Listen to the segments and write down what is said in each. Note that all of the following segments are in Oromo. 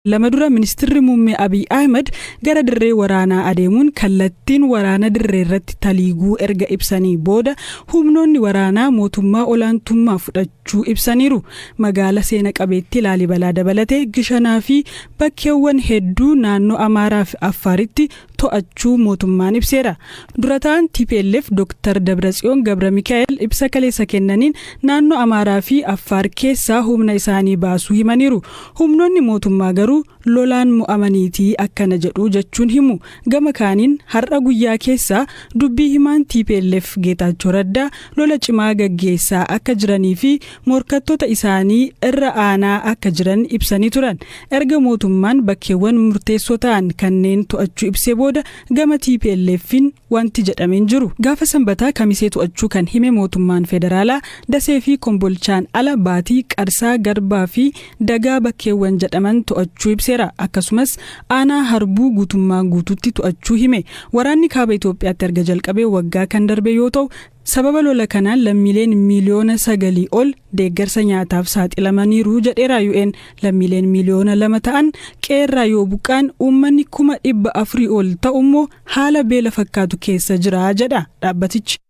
lama dura ministirri muummee Abiy Ahimad gara dirree waraanaa adeemuun kallattiin waraana dirreerratti taliiguu erga ibsanii booda humnoonni waraanaa mootummaa olaantummaa fudhachuu ibsaniiru. Magaala seena qabeettii Laalibalaa dabalatee Gishanaa fi bakkeewwan hedduu naannoo Amaaraa fi Affaaritti to'achuu mootummaan ibseera. Dura ta'an tplf Dr. Dabratsiyoon Gabramikaa'el ibsa kaleessa kennaniin naannoo Amaaraa fi Affaar keessaa humna isaanii baasuu himaniiru. Humnoonni mootummaa garuu lolaan mo'amaniiti akkana jedhu jechuun himu. Gama kaaniin har'a guyyaa keessaa dubbii himaan tplf Geetaachoo Raddaa lola cimaa gaggeessaa akka jiranii fi morkattoota isaanii irra aanaa akka jiran ibsanii turan. Erga mootummaan bakkeewwan murteessoo ta'an kanneen to'achuu ibsee booda gama TPLF'n wanti jedhame hin jiru. Gaafa Sanbataa Kamisee to'achuu kan hime mootummaan federaalaa Dasee fi Kombolchaan ala Baatii, Qarsaa, Garbaa fi Dagaa bakkeewwan jedhaman to'achuu ibseera. Akkasumas aanaa Harbuu guutummaa guutuutti to'achuu hime. Waraanni Kaaba Itoophiyaatti erga jalqabee waggaa kan darbe yoo ta'u, Sababa lola kanaan lammiileen miiliyoona sagalii ol deeggarsa nyaataaf saaxilamaniiru jedheera UN. Lammiileen miiliyoona lama ta'an qe'eerraa yoo buqqaan uummanni kuma dhibba afurii ol ta'u immoo haala beela fakkaatu keessa jira jedha dhaabbatichi.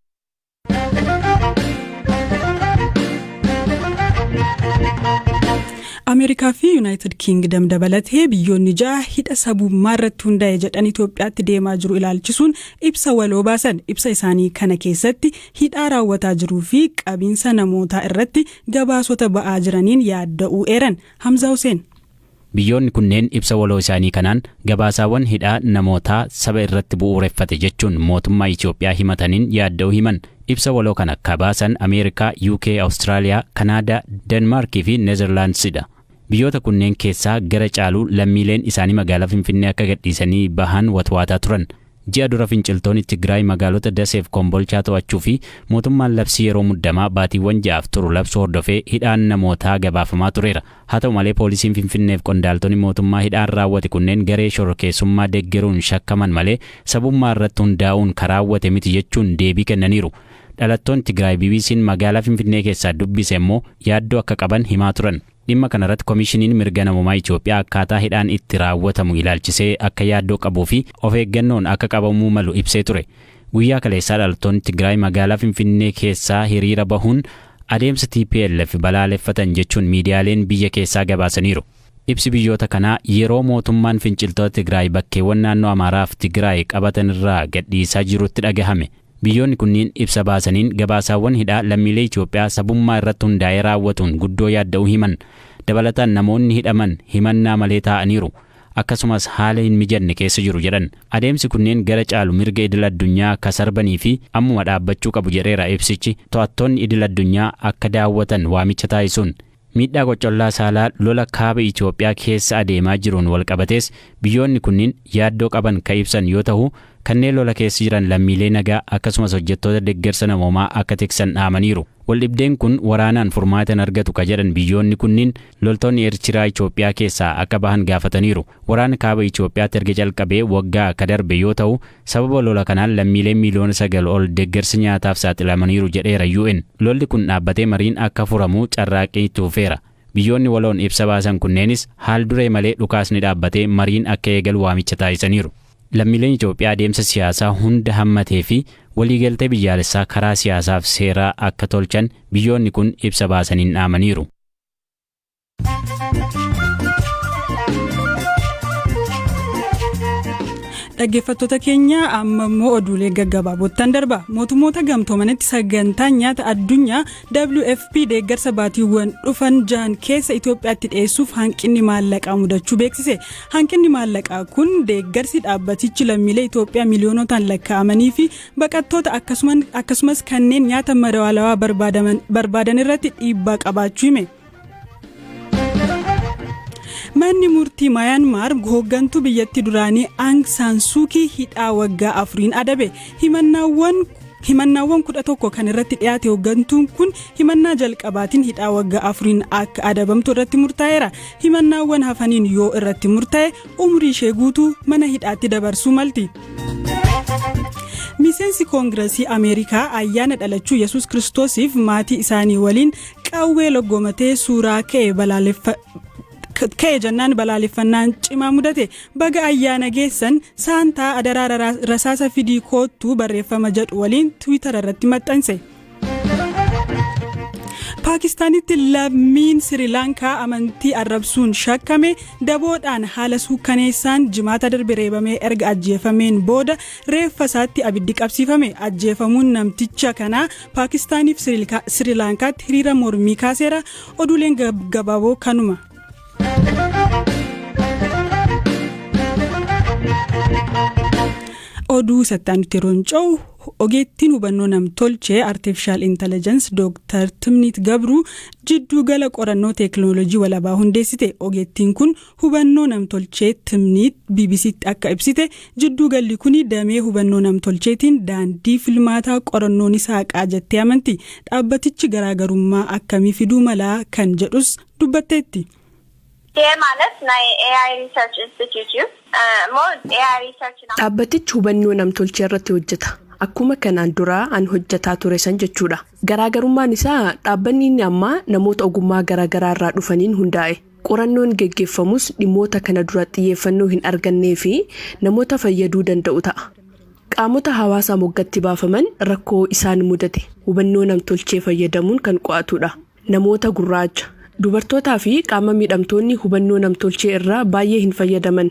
Ameerikaa fi Yuunaayitid Kiingidam dabalatee biyyoonni ja'a hidha sabummaa irratti hundaa'e jedhan Itoophiyaatti deemaa jiru ilaalchisuun Ibsa waloo baasan ibsa isaanii kana keessatti hidhaa raawwataa jiruu fi qabiinsa namootaa irratti gabaasota ba'aa jiraniin yaadda'uu eeran Hamzaa Huseen. Biyyoonni kunneen ibsa waloo isaanii kanaan gabaasaawwan hidhaa namootaa saba irratti bu'uureffate jechuun mootummaa Itiyoophiyaa himataniin yaadda'uu himan. Ibsa waloo kana ka baasan Ameerikaa, UK, Awustiraaliyaa, Kanaadaa, Denmaarkii fi Nezerlaandsidha. Biyyoota kunneen keessaa gara caalu lammiileen isaanii magaalaa Finfinnee akka gadhiisanii bahan watwaataa turan. Ji'a dura finciltooni Tigraay magaalota Dasee fi Kombolchaa to'achuu fi mootummaan labsii yeroo muddamaa baatiiwwan ja'aaf turu labsuu hordofee hidhaan namootaa gabaafamaa tureera. Haa ta'u malee poolisiin Finfinnee fi qondaaltoni mootummaa hidhaan raawwate kunneen garee shororkeessummaa deggeruun shakkaman malee sabummaa irratti hundaa'uun ka raawwate miti jechuun deebii kennaniiru. Dhalattoonni Tigraay BBC'n magaalaa Finfinnee keessaa dubbise immoo yaaddoo akka qaban himaa turan. Dhimma kanarratti Komishiniin Mirga Namoomaa Itoophiyaa akkaataa hidhaan itti raawwatamu ilaalchisee akka yaaddoo qabuu fi of eeggannoon akka qabamuu malu ibsee ture. Guyyaa kaleessaa dhalattoonni Tigraay magaalaa Finfinnee keessaa hiriira bahuun adeemsa tplf balaaleffatan jechuun miidiyaaleen biyya keessaa gabaasaniiru. Ibsi biyyoota kanaa yeroo mootummaan finciltoota Tigraay bakkeewwan naannoo Amaaraaf Tigraay qabatanirraa gadhiisaa jirutti dhagahame. Biyyoonni kunniin ibsa baasaniin gabaasaawwan hidhaa lammiilee Itoophiyaa sabummaa irratti hundaa'ee raawwatuun guddoo yaadda'uu himan. Dabalataan namoonni hidhaman himannaa malee taa'aniiru. Akkasumas haala hin mijanne keessa jiru jedhan. Adeemsi kunneen gara caalu mirga idil addunyaa ka sarbanii fi ammuma dhaabbachuu qabu jedheera ibsichi to'attoonni idil addunyaa akka daawwatan waamicha taasisuun. Miidhaa qoccollaa saalaa lola Kaaba Itoophiyaa keessa adeemaa jiruun walqabatees biyyoonni kunniin yaaddoo qaban ka ibsan yoo tahu, kanneen lola keessa jiran lammiilee nagaa akkasumas hojjettoota deggersa namoomaa akka tiksan dhaamaniiru. Waldhibdeen kun waraanaan furmaata hin argatu ka jedhan biyyoonni kunniin, loltoonni Eertiraa Itoophiyaa keessaa akka bahan gaafataniiru. Waraana Kaaba Itoophiyaatti erga calqabee waggaa ka darbe yoo tahu, Sababa lola kanaan lammiileen miiliyoona 9 ol deeggarsi nyaataaf saaxilamaniiru jedheera UN. Lolli kun dhaabbatee mariin akka furamu carraaqqii itti fufeera. Biyyoonni waloon ibsa baasan kunneenis haal-duree malee dhukaasni dhaabbatee mariin akka eegalu waamicha taasisaniiru. Lammiileen Itoophiyaa adeemsa siyaasaa hunda hammatee fi waliigaltee biyyaalessaa karaa siyaasaaf seeraa akka tolchan biyyoonni kun ibsa baasaniin dhaamaniiru. dhaggeeffattoota keenya amma immoo oduulee gaggabaaboottan darba mootummoota gamtoomanitti sagantaan nyaata addunyaa wfp deeggarsa baatiiwwan dhufan jahan keessa itoophiyaatti dhiyeessuuf hanqinni maallaqaa mudachuu beeksise hanqinni maallaqaa kun deeggarsi dhaabbatichi lammiilee itoophiyaa miiliyoonootaan lakkaa'amanii fi baqattoota akkasumas kanneen nyaata madaalawaa barbaadan irratti dhiibbaa qabaachuu hime. Manni murtii Mayanmaar hooggantuu biyyatti duraanii Aang Saan Suukii hidhaa waggaa afuriin adabe himannaawwan himannaawwan kudha tokko kan irratti dhiyaate hooggantuun kun himannaa jalqabaatiin hidhaa waggaa afuriin akka adabamtu irratti murtaa'eera himannaawwan hafaniin yoo irratti murtaa'e umrii ishee guutuu mana hidhaatti dabarsuu malti. miseensi koongirasii ameerikaa ayyaana dhalachuu yesus kiristoosiif maatii isaanii waliin qawwee loggomatee suuraa ka'e balaaleffa ka'e jennaan balaaleffannaan cimaa mudate baga ayyaana geessan saantaa adaraa rara- rasaasa fidii koottuu barreeffama jedhu waliin tiwiitara irratti maxxanse. paakistaanitti lammiin sirilaankaa amantii arrabsuun shakkame daboodhaan haala suukkaneessaan jimaata darbe reebamee erga ajjeefameen booda reeffa isaatti abiddi qabsiifame ajjeefamuun namticha kanaa Paakistaaniif Sirilaankaatti hiriira mormii kaaseera oduuleen gabaaboo kanuma. oduu isatti aanutti yeroo ce'u ogeettiin hubannoo namtolchee artiifishaal intellijensi dooktar timniit gabruu jidduu gala qorannoo teeknooloojii walabaa hundeessite ogeettiin kun Hubannoo Namtolchee, Timniit, BBC'tti akka ibsite, jidduu galli kuni damee hubannoo namtolcheetiin daandii filmaataa qorannoo ni saaqaa jettee amanti. Dhaabbatichi garaagarummaa akkamii fiduu mala kan jedhus dubbatteetti. Dhaabbatichi hubannoo namtolchee irratti hojjeta. Akkuma kanaan dura an hojjetaa ture san jechuudha. Garaagarummaan isaa dhaabbanni inni ammaa namoota ogummaa garaagaraa irraa dhufaniin hundaa'e. Qorannoon geggeffamus dhimmoota kana dura xiyyeeffannoo hin argannee fi namoota fayyaduu danda'u ta'a. Qaamota hawaasaa moggatti baafaman rakkoo isaan mudate hubannoo namtolchee fayyadamuun kan qo'atu dha. Namoota gurraacha, dubartootaa fi qaama miidhamtoonni hubannoo namtolchee irraa baay'ee hin fayyadaman.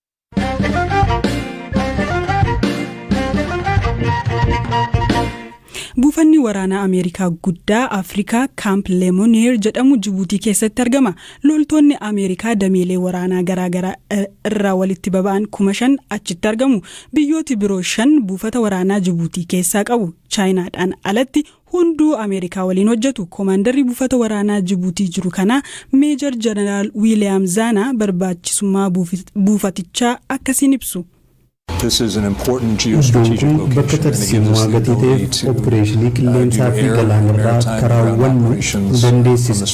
Buufanni waraanaa Ameerikaa guddaa Afrikaa Kaamp Lemoneer jedhamu Jibuutii keessatti argama. Loltoonni Ameerikaa dameelee waraanaa garaagaraa irraa walitti baba'an kuma shan achitti argamu. Biyyooti biroo shan buufata waraanaa Jibuutii keessaa qabu. Chaayinaadhaan alatti Hunduu Ameerikaa waliin hojjetu. Komaandarri buufata waraanaa Jibuutii jiru kanaa Meejar Janaraal Wiiliyaam Zaanaa barbaachisummaa buufatichaa akkasiin ibsu. Iddoon kun bakka tarsiimowaa gatii ta'eef oppireeshinii qilleensaa fi galaanarraa akka raawwannu nu dandeessisa.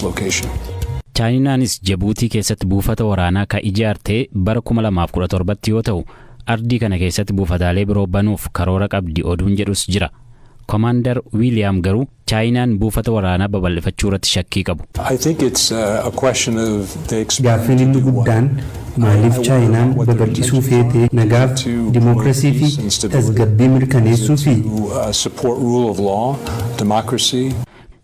Chaayinaanis Jibuutii keessatti buufata waraanaa ka ijaarte bara 2017tti yoo ta'u, ardii kana keessatti buufataalee biroo banuuf karoora qabdi oduun jedhus jira. Komaandar Wiiliyaam garuu Chaayinaan buufata waraanaa babal'ifachuurratti shakkii qabu. Gaaffiin inni guddaan maaliif Chaayinaan babal'isuu feete, nagaaf, dimookirasii fi tasgabbii mirkaneessuufii?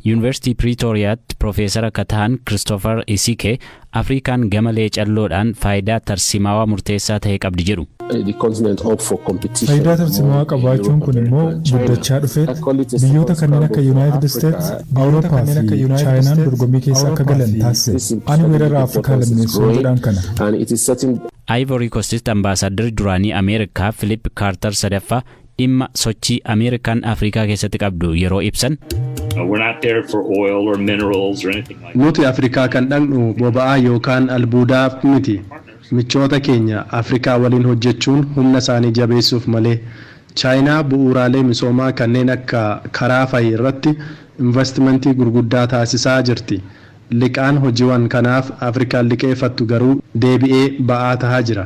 Yuunivarsiitii Piriitooriyaatti Pirofeesara ka tahan Kiristoofar Isike, Afriikaan gama leecalloodhaan faayidaa tarsiimaawaa murteessaa tahe qabdi jedhu. Faayidaa tarsimaawaa qabaachuun kun immoo guddachaa dhufeet biyyoota kanneen akka Yunaayitid Isteets, Awurooppaa fi Chaayinaan dorgommii keessa akka galan taasise. Ani weerara Afrikaa lammeessuu jedhaan kana. Ayivorii Kostitti Ambaasaadarri duraanii Ameerikaa Filiip Kaartar sadaffaa, dhimma sochii Ameerikaan Afrikaa keessatti qabdu yeroo ibsan. We're not there for oil or minerals or anything like that. Nuti Afrikaa kan dhaqnu boba'aa yookaan albuudaaf miti. Michoota keenya Afrikaa waliin hojjechuun humna isaanii jabeessuuf malee. Chaayinaa bu'uuraalee misoomaa kanneen akka karaa fa'i irratti invastimantii gurguddaa taasisaa jirti. Liqaan hojiwan kanaaf Afrikaan liqeeffattu garuu deebi'ee ba'aa tahaa jira.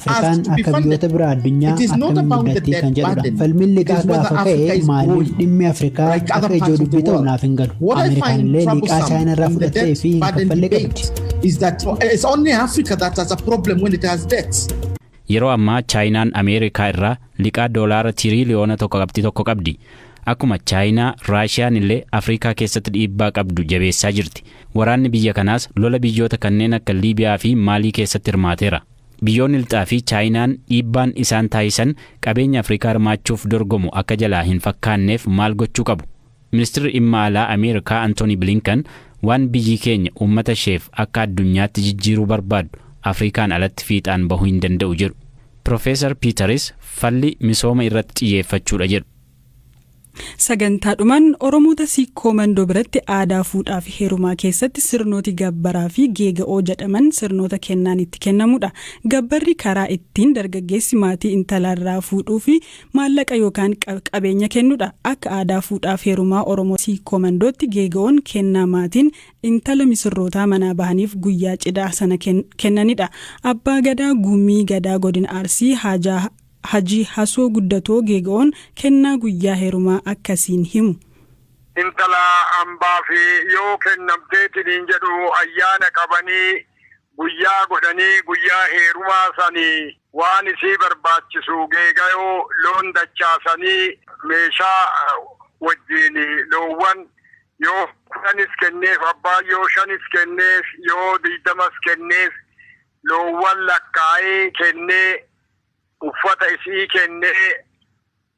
Afrikaan akka biyyoota biraa addunyaa akkamiin guddattii kan jedhudha. Falmiin liqaa gaafa ka'e maaliif dhimmi Afrikaa akka ijoo dubbii ta'u naaf hin galu. Ameerikaan illee liqaa Chaayinaa irraa fudhattee fi hin kaffalle qabdi. Is that it's only Africa that has a problem when it has debts. Yeroo ammaa Chaayinaan Ameerikaa irraa liqaa doolaara tiriiliyoona tokko qabxii tokko qabdi. Akkuma Chaayinaa, Raashiyaan illee Afrikaa keessatti dhiibbaa qabdu jabeessaa jirti. Waraanni biyya kanaas lola biyyoota kanneen akka Liibiyaa fi Maalii keessatti hirmaateera. Biyyoonni Lxaa fi Chaayinaan dhiibbaan isaan taasisan qabeenya Afrikaa hirmaachuuf dorgomu akka jalaa hin fakkaanneef maal gochuu qabu? Ministirri Dhimma Alaa Ameerikaa Antoonii Bilinkan waan biyyi keenya uummata isheef akka addunyaatti jijjiiruu barbaaddu Afrikaan alatti fiixaan bahuu hin danda'u jedhu. Pirofeesar Piitaris falli misooma irratti xiyyeeffachuudha jedhu. Sagantaadhumaan Oromoota Sikkoo Mandoo biratti aadaa fuudhaafi heerumaa keessatti sirnooti gabbaraafi geega'oo jedhaman sirnoota kennaan itti kennamuudha. Gabbarri karaa ittiin dargaggeessi maatii intalaarraa fuudhuufi maallaqa yookaan qabeenya kennudha. Akka aadaa fuudhaaf heerumaa Oromoo Siikkoo Mandootti geega'oon kennaa maatiin intala misirrootaa manaa bahaniif guyyaa cidhaa sana kennanidha. Abbaa Gadaa Gumii Gadaa Godina Arsii Haajaa Hajii hasoo guddatoo geega'oon kennaa guyyaa herumaa akka siin himu. Intala hambaaf yoo kennamtee siniin jedhu ayyaana qabanii guyyaa godhanii guyyaa heerumaa san waan isii barbaachisu geegayoo loon dachaasanii meeshaa wajjiin loowwan yoo kudhanis kenneef abbaan yoo shanis kenneef yoo digdamas kenneef loowwan lakkaa'ee kennee uffata isi'ii kennee,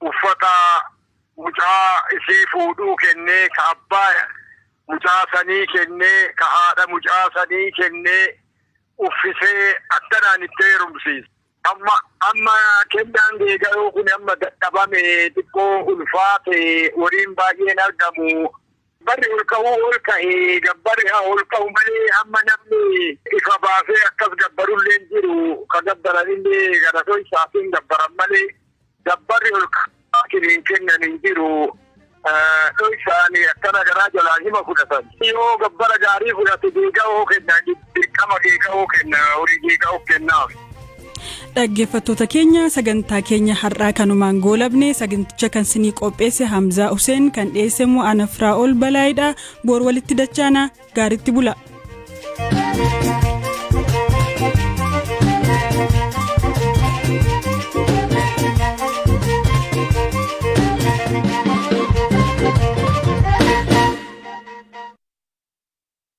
uffata mucaa isii fuudhuu kennee, ka abbaa mucaa sanii kennee, ka haadha mucaa sanii kennee, uffisee, akkanaan itti heerumsiise. Amma, amma kennaan geegayoo kun amma dadhabame, xiqqoo ulfaate, horiin baay'een argamu, Barri ol ka'uu ol ka'e gabbari haa ol ka'u malee amma namni ifa baasee akkas gabbaru illee hin jiru. Ka gabbaran illee gara dhoysaatiin gabbaran malee gabbarri ol ka'aatiin hin kennan hin jiru. Dhoysaan akkana garaa jalaan hima fudhatan. Yoo gabbara gaarii fudhate deega'oo kennan Dirqama kee ka'uu kenna horii kee ka'uu kennaaf. Dhaggeeffattoota keenya sagantaa keenya har'aa kanumaan goolabne saganticha kan sinii qopheesse Hamzaa Huseen kan dhiyeesse immoo Anafraa ol balaayidha boor walitti dachaana gaaritti bula.